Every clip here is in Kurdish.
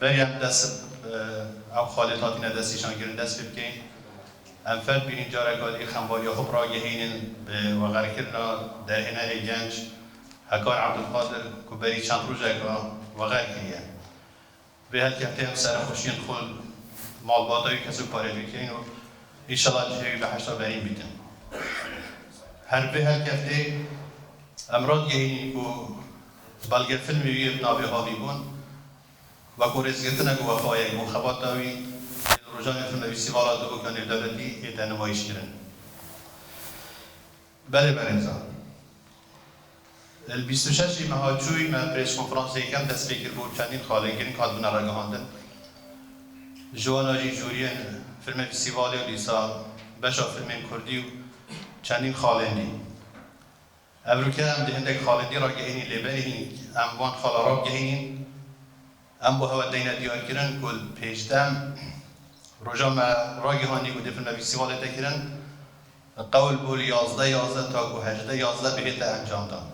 Meryem, Dest bi ev xalê hatîne destnîşankirin dest pê bikeyin. Em ferd bînin careka dî xembariya xwe bi ragihînin bi vegerkirina derhê nehê genc Hekar Ebdulkadir ku berî çend rojek a veger kiriye. Vê helkevtê em serexweşiyên xwe li malbata wî kesokkarê dikeyin û înşela cihê wî bi heyşta berîn bîtin. Her bi vê helkevtê em radigihînin ku Belge fîlmê wî yê bi navê Havî bûn weko rêzgirtinek û wefayek bû. Xebata wî yê li rojanên Filmevîstîvala Dibûka Nêvdewletî yê tê nimayîşkirin. Belê berêzan, li bîst û şeş ê meha çûyî me prêskonferansê yekem dest pê kiribû, çendîn xalên girîng hatibûne ragihandin. Ji wana jî jûriyên Filmevîstîvalê û dîsa beşa fîlmên kurdî û çendîn xalên dî. Ev rûke em di hindek xalîdî ra gehînî lê belê hîn em van xala ra bigehînîn. Em bo hewa teyne diyarkirin ku di pêşdem roja me ragihanî ku dê filmekî sî xalê te kirin qewl bû li yazdeh yazdeh ta ku hejdeh yazdeh bihête encamdan.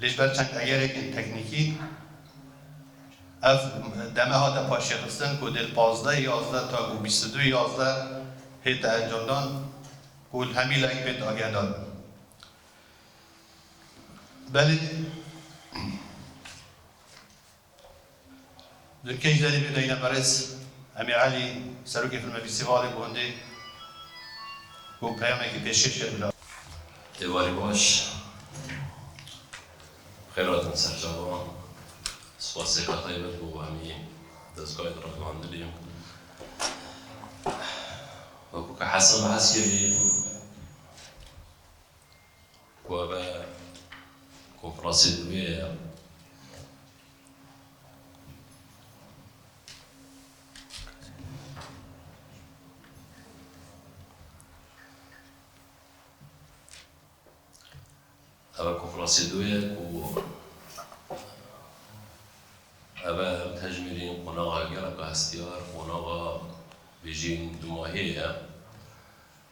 Lê ji ber çend egerekên teknîkî ev deme hate paşêxistin ku dê li pazdeh yazdeh ta ku bîst û du yazdeh hête encamdan ku li hemî layek bê dagehdarin. Belê li Keyserê bigeyne berez Emî Elî, Serokê Filmefîstîvalê gondê ku peyamekî pêşkêş kir bila. Êvarê baş, bixêr hatin ser çavan. Spasêka taybet bo hemî dezgayên rexnandinê wekû ke hesa bi hes kirî. ku ev e konferansê nûyê ye. Ev e konferansê nûyê ye ku ev e em tejmîrîn qonaxa geleka hestiyar, qonaxa bêjîn dûmahiyê ye.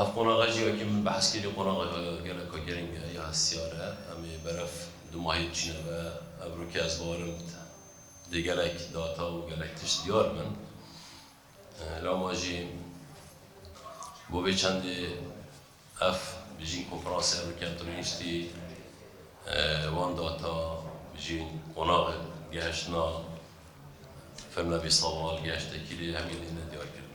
Ev qonaxe jî wekî min behs kirî qonaxeke geleka girîng e ya hestiyar e. Em ê berev du mahî biçîne ve. Ev rokê ez bawerim dê gelek data û gelek tişt diyar bin. Lewma jî bo vê çendê ev bijîn konferansê ev rokê em tune niştî wan data bijîn qonaxe gehiştina firna bîsawal gehişte kirê hemî lê nediyar kirin.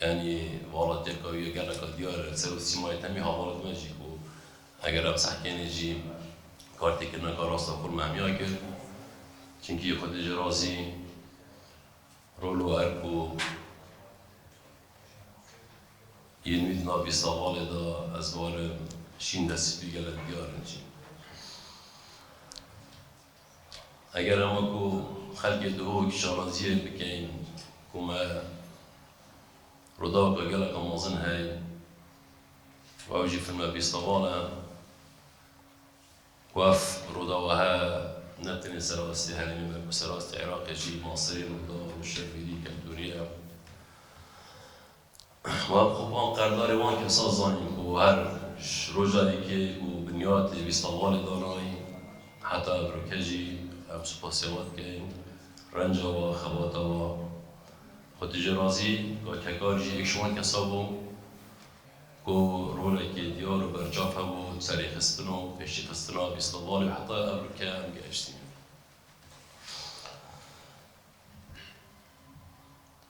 Yanî vala têka wî ya geleka diyar e. Ser û sîmayê temî heval dime jî ku eger em sehkênê jî kar têkirina ka rasta xwe mehmîya kir. Çimkî xwe dê ji razî rol û erk û yên wî di nav vî savalê de ez barim şîn de spî gelek diyar in jî. Eger em wekû xelkê dihok şanaziyên bikein ku me Rûdaweke geleka mezin heye û ew jî fîlme bîstavan e ku ev Rûdawa heye ne tenê serastî herêmê me ku serastî Iraqê jî maseyê Rûdaw û şervînî keltûrî ye. Wan kopan qerdarê wan kesan zanîn ku her ji roja yekê ku binyatê Vîstamalê danayîn heta îroke jî em supasê wan dikein, renca wan, xebata wan. Xwe tu jê razî ka Kekar jî yek ji wan kesan bû ku rolekê diyar û berçav hebû di serê xistin û pêşîxistina Vîstamalê û heta îroke em gehiştîn.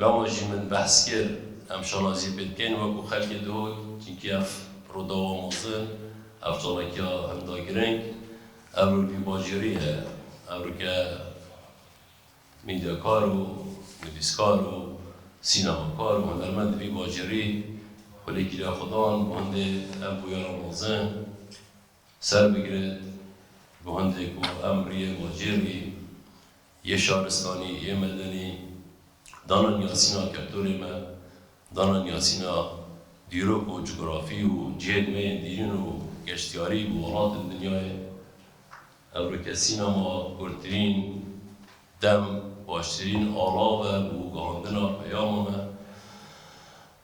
Lama jî min behs kir em şanazî pê dikên wekû xelkê dihol çinkî ev Rûdawa mezin, ev çalakîya hinda giring, ev rûkî bajêrî ye, ev rûke mîdyakar û nivîskar û sînemakar û hunermendî vî bajêrî xwelêkî lê xwe dan û hindê ev bûyera mezin, Ser bigire guhndê ku em riyê ma cêr bî, yê şaristanî, yê medenî, dana niyasîna keptorê me, dana niyasîna dîrok û cugurafî û cihên me yên dîrîn û geştyarî bi welatên dinyayê. Ev rikesîna ma kurtirîn dem, baştirîn ala ver û guhandina peyama me.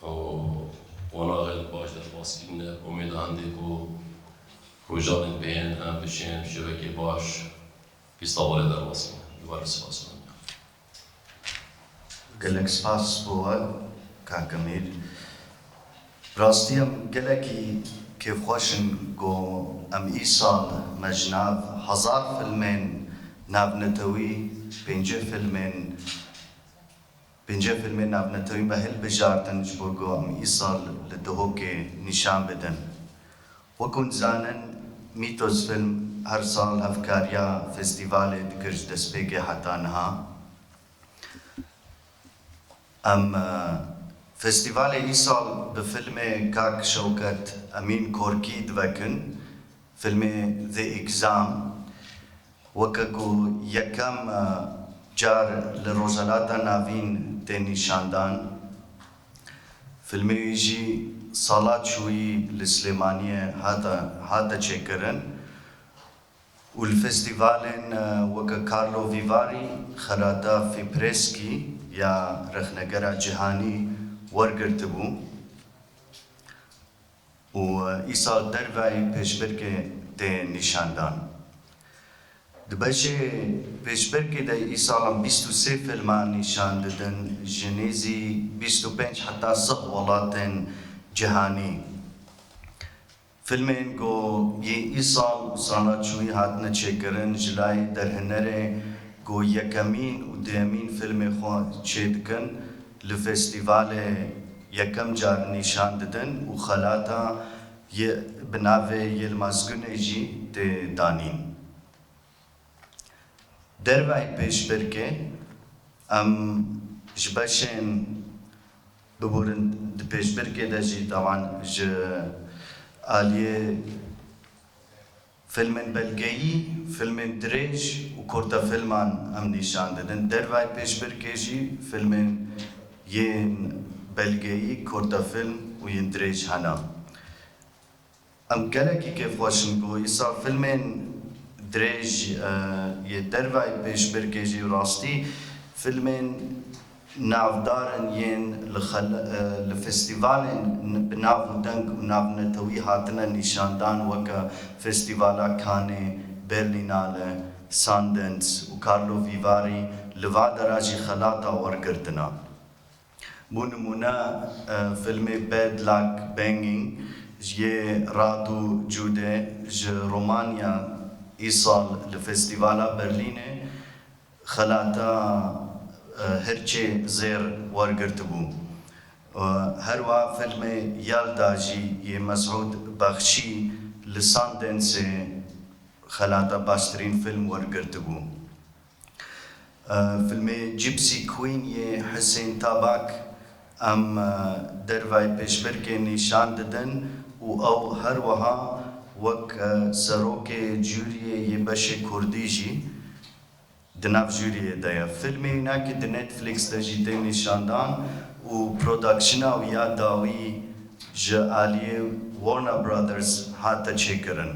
Ku qonaxê li baş de baskî ne, umêda hindê ku rojanên pê yên em bişên bi şevekê baş pîsta wan ê derbasî ne. Ji wan re spas mend be. Gelek spas bo we kak Emîr. Bi rastî em gelekî kêfxweş in ku em îsal me ji nav hezar filmên navnetewî pêncî filmên Pêncî fîlmên navnetewî me hilbijartin ji bo ku em îsal li Dihokê nîşan bidin. Wek hûn dizanin Mîtos Fîlm her sal hevkariya festîvalê dikir ji destpêkê heta niha. Em festîvalê îsal bi fîlmê Kak Şewket Emîn Korkî divekin, fîlmê The Exam. Weke ku yekem car li Rojhilata Navîn tê nîşandan, fîlmê wî jî sala çûyî li Silêmaniyê hate hate çêkirin û li festîvalên weke Carlo Vivari, Xerata Fipreski ya rexnegera cîhanî wergirtibû. û îsal derveyî pêşbirkê tê nîşandan. Di beşê pêşbirkê de îsalan bîst û sê fîlman nîşan didin ji nêzî bîst û pênc heta sih welatên cîhanî. Fîlmên ku yê îsal û sala çûyî hatine çêkirin ji layê derhinerê ku yekemîn û duyemîn fîlmê xwe çêdikin, Li festîvalê yekem car nîşan didin û xelata yê bi navê Yilmaz Gunê jî tê danîn. Derveyî pêşbirkê em ji beşên biborin di pêşbirkê de jî tawan ji aliyê. Filmên belgeyî, filmên dirêj û kurtefilman em nîşan didin. Dervayê pêşbirkê jî filmên yên belgeyî, kurtefilm û yên dirêj hene. Em gelekî kêfxweş in ku îsal filmên dirêj yê dervayê pêşbirkê jî rastî filmên Navdarin yên li xel li festîvalên bi nav û deng û navnetewî hatine nîşandan weke Festîvala Kanê, Berlînale, Sundens û Karlo Vîvarî li va de re jî xelata wergirtina. Bo nimûne fîlmê Bad Luck Banging yê Radu Jude ji Romanya îsal li Festîvala Berlînê, Xelata Hirçê Zêr wergirtibû. Herwa filmê Yalda jî yê Mesûd Bexşî li Sundance xelata baştirîn film wergirtibû. Filmê Gypsy Queen yê Hisên Tabak em dervayê pêşbirkê nîşan didin û ew her wiha wek serokê juriyê yê beşê kurdî jî Di nav juriyê de ye. Filmê wina ku di Netflix de jî tê nîşandan û prodaksyona wî ya dawî ji aliyê Warner Brothers hate çêkirin.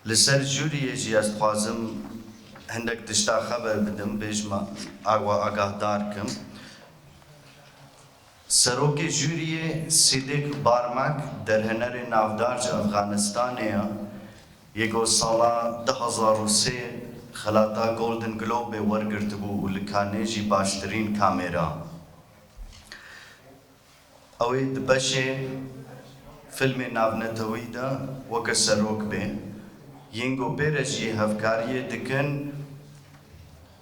Li ser juriyê jî ez dixwazim hindek tişta xeber bidim, bêjim a we agahdar kim. Serokê jûriyê Sîdîk Barmak derhênerê navdar ji Efxanistanê ye yê ku sala du hezar û sê xelata Golden Globe wergirtibû û li Canê jî baştirîn kamera ew ê di beşê fîlmê navnetewî de weke serok bê yên ku pê re jî hevkariyê dikin.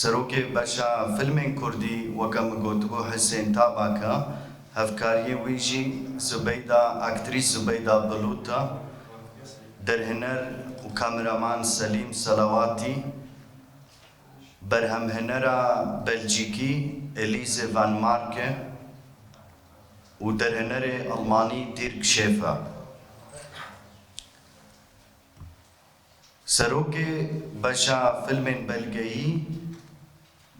Serokê Beşa Fîlmên Kurdî weke min gotibû Hisên Tabak e, hevkariyê wî jî Zubeyda aktrîs Zubeyda Bulut e. Derhiner û kameraman Selîm Selawatî, berhemhinera Belcîkî Elise Van Marke û derhinerê Elmanî Dirk Schäfer. Serokê beşa fîlmên belgeyî,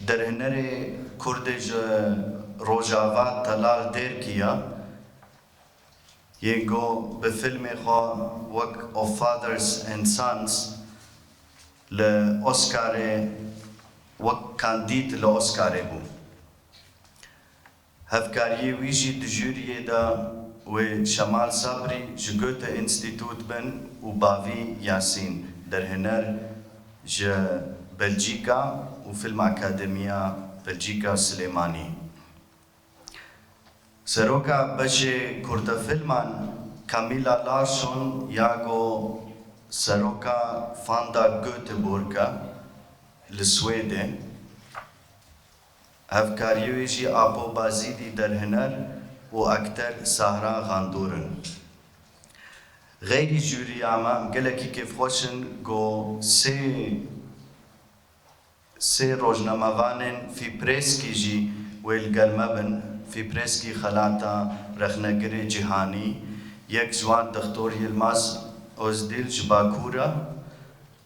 derhênerê kurdê ji Rojava Telal Dêrkî ya, yê ku bi fîlmê xwe wek Of Fathers and Sons li Oscarê wek kandîd li Oscarê bû, Hevkariyê wî jî di jûriyê de wê Şemal Sabrî ji Goethe-Institut bin û bavî Yasîn Derhiner ji Belcîka û Filmakademiya Belcîka Silêmanî. Seroka beşê Kurdefilman Camilla Larsson ya ku seroka Fanda Göteborg e li Swêdê, Hevkarî wê jî Apo Bazîdî derhiner û akter Sahran Xandor in. Xeyrî jûrîya me gelekî kêfxweş in ku sê sê rojnamevanên Fîprêskî jî wê li gel me bin, Fîprêskî xelata rexnegirê cîhanî, yek ji wan Dixtor Yilmaz Ozdîl ji Bakûr e,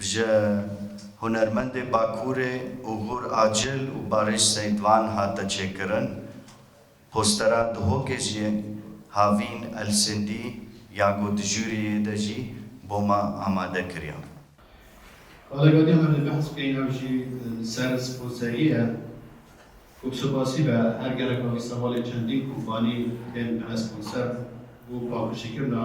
Ji hunermendê Bakurê Ugur Acil û Barış Seytvan hate çêkirin. Postera Duhokê jî havîn Elsindî ya ku di jûrî yê de jî boma amade kiriyan. Wele gotê me dê behs bikeyîn ew jî li ser sponserî ye ku bi supasî be her gereka îstevalê çendîn kompanî tên bine sponser bo paqijîkirina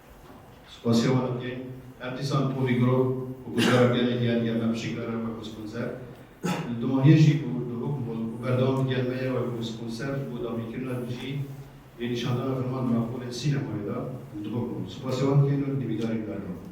Spasiya wan tê. Her dîsan Polî Girov û guhdara gelê diyar diya me pişik re re wek wespûnser. Li Dumaniyê jî ku li hûk bûn û berdewam digiyan me ye wek wespûnser bû dagirkirina li dijî vê nîşandana filman di nav holên sînemayê de li Duhok bûn. Spasiya wan tê û li dîwîdarî berdewam in.